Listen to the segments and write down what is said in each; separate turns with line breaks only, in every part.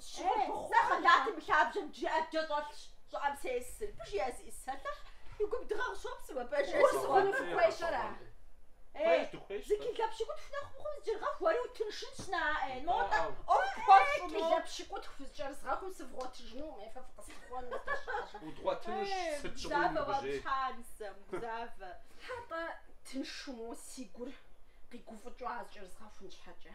Щхьэхыхъуэ Нэ хъэлати мы лъабжьэм джы ӏэджэ щӏэлъщ щӏыӏэм сес. Пыж я зы ӏис сэлъыхь, и гум дыгъэ къыщопсы уэ пэжыр. Гур сыхъуну фыхуейщ ара? Хуейщ, дыхуейщ Зы сэ. кӏылэ пщыкӏутху нэхъ мыхъум зыджыргъэху уэри утыншынщ на ӏэ. Мо тӏэ Даӏэу. ӏуэху пхуэфщӏу мо. Кӏылэ пщыкӏутху фызкӏэрызгъэхум сывгъуэтыжыну уэ фэ фыкъысхуэну здэщыӏэжыр.
Удгъуэтынущ сыт щыгъуи уи Гузавэ уэ гужьей. пщхьэ а нысэм,
Гузавэ. Хьэ-тӏэ, тыншу моуэ си гур къигуфӏыкӏыу а зыкӏэрызгъэхун щхьэкӏэ.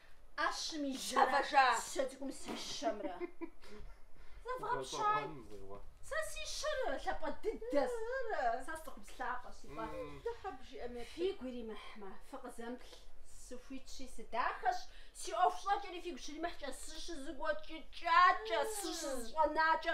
ӏэщӏым и жьэрэ сэ цӏыкӏум си щэмрэ. Зэвгъэпщай. Сэ си щэр лъапӏэ дыдэщ. Сэ сыцӏыхубз къэ си фӏэ. Фигу иримыхьмэ, фыкъызэмплъ. Сыхуитщи сыдахэщ, си ӏуэху щӏэкӏэри фигу щримыхькӏэ, сыщызыгуэкӏыкӏакӏэ, сыщызыщӏэнакӏэ.